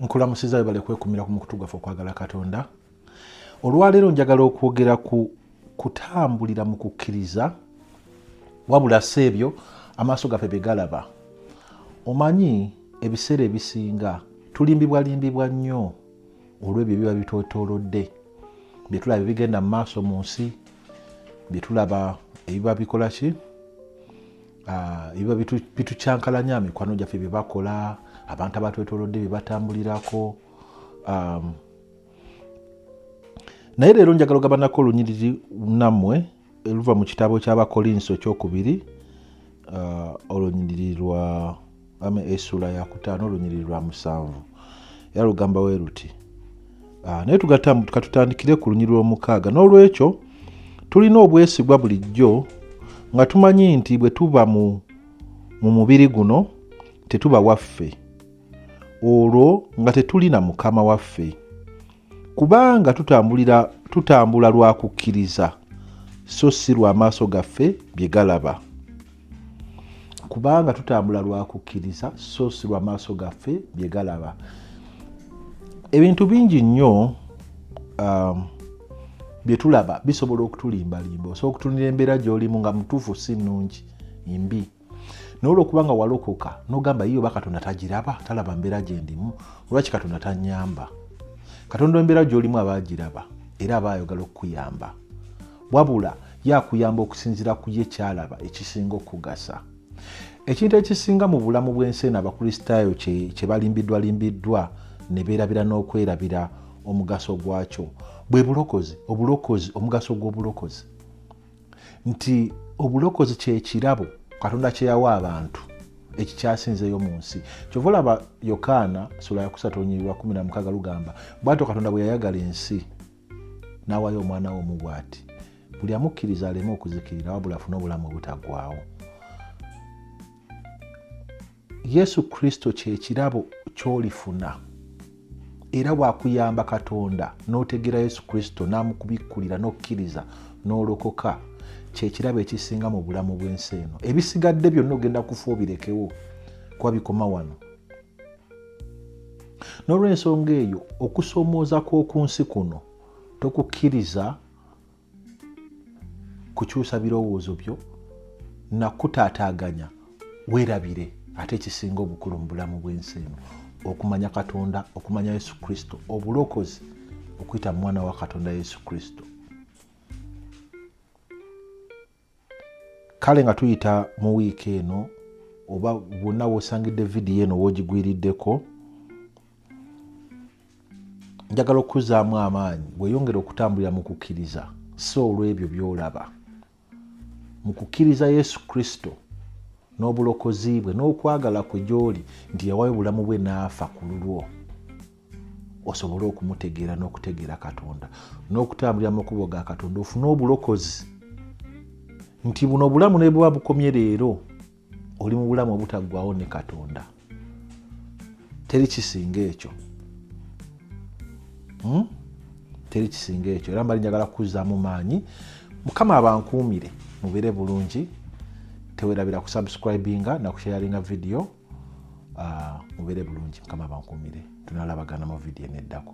nkulamusiza webale kwekumira ku mukutu gwaffe okwagala katonda olwaleero njagala okwogera ku kutambulira mu kukkiriza wabula si ebyo amaaso gaffe bye galaba omanyi ebiseera ebisinga tulimbibwalimbibwa nnyo olw'ebyo biba bitwetoolodde bye tulaba ebigenda mu maaso mu nsi bye tulaba ebiba bikola ki Ah, ebiba bitucankalanya bitu mikwano gyaffe byebakola abantu abatwetolodde byebatambulirako um, naye leero njagala ogabanako olunyiriri nammwe luva mu kitabo ky'abakolinso ekyokubiri uh, olunyiriri lwa ama esula yakutaano olunyiriri lwa musanvu era lugamba we luti ah, naye tugatamu katutandikire ku lunyiriri lw'omukaaga n'olwekyo tulina obwesigwa bulijjo nga tumanyi nti bwe tuba mu mu mubiri guno tetuba waffe olwo nga tetuli na mukama waffe kubanga tutambulira tutambula lwa kukkiriza so si lw'amaaso gaffe bye galaba kubanga tutambula lwa kukkiriza so si lwa maaso gaffe bye galaba ebintu bingi nnyo um, bye tulaba bisobola okutulimbalimba osobola okutunira embeera gy'olimu nga mutuufu si nnungi mbi naye olwokuba nga walokoka nogamba yiyo oba katonda tagiraba talaba mbeera gyendimu olwaki katonda tanyamba katonda embeera gy'olimu aba agiraba era aba ayogala okukuyamba wabula ye akuyamba okusinziira ku ye kyalaba ekisinga okugasa ekintu ekisinga mu bulamu bw'ensi eno abakristaayo kye balimbiddwalimbiddwa ne beerabira n'okwerabira omugaso gwakyo bwe bulokozi obulokozi omugaso gw'obulokozi nti obulokozi kyekirabo katonda kyeyawa abantu ekikyasinzeyo mu nsi kyova olaba yokaana sula yakusatu onyirira 16 lugamba bwatyo katonda bwe yayagala ensi n'awaayo omwana we omu bw'ati buli amukkiriza aleme okuzikirira wabula afune obulamu obutaggwaawo yesu kristo kye kirabo ky'olifuna era wakuyamba katonda n'otegeera yesu kristo n'amukubikkulira n'okkiriza n'olokoka kyekirabo ekisinga mu bulamu bw'ensi eno ebisigadde byonna ogenda kufa obirekewo kuba bikoma wano n'olw'ensonga eyo okusoomooza kw'oku nsi kuno tokukkiriza kukyusa birowoozo byo nakutaataaganya weerabire ate ekisinga obukulu mu bulamu bw'ensi eno okumanya katonda okumanya yesu kristo obulokozi okuyita mu mwana wa katonda yesu kristo kale nga tuyita mu wiiki eno oba wonna wosangidde vidiyo eno wogigwiriddeko njagala okukuzaamu amaanyi weyongere okutambulira mu kukkiriza si olw'ebyo byolaba mu kukkiriza yesu kristo n'obulokozi bwe n'okwagala kwe gy'oli nti yawayo obulamu bwe n'afa ku lulwo osobole okumutegeera n'okutegeera katonda n'okutambulira makubo ga katonda ofune obulokozi nti buno obulamu ne buba bukomye leero oli mu bulamu obutaggwawo ne katonda teri kisinga ekyo hmm? teri kisinga ekyo era mbali njagala kukuzzaamu maanyi mukama abankuumire mubeere bulungi tewerabira kusubscribinga nakushayaringa vidiyo ah, mubeere bulungi mukama bankumire tunalabagana mu vidiyo eneddako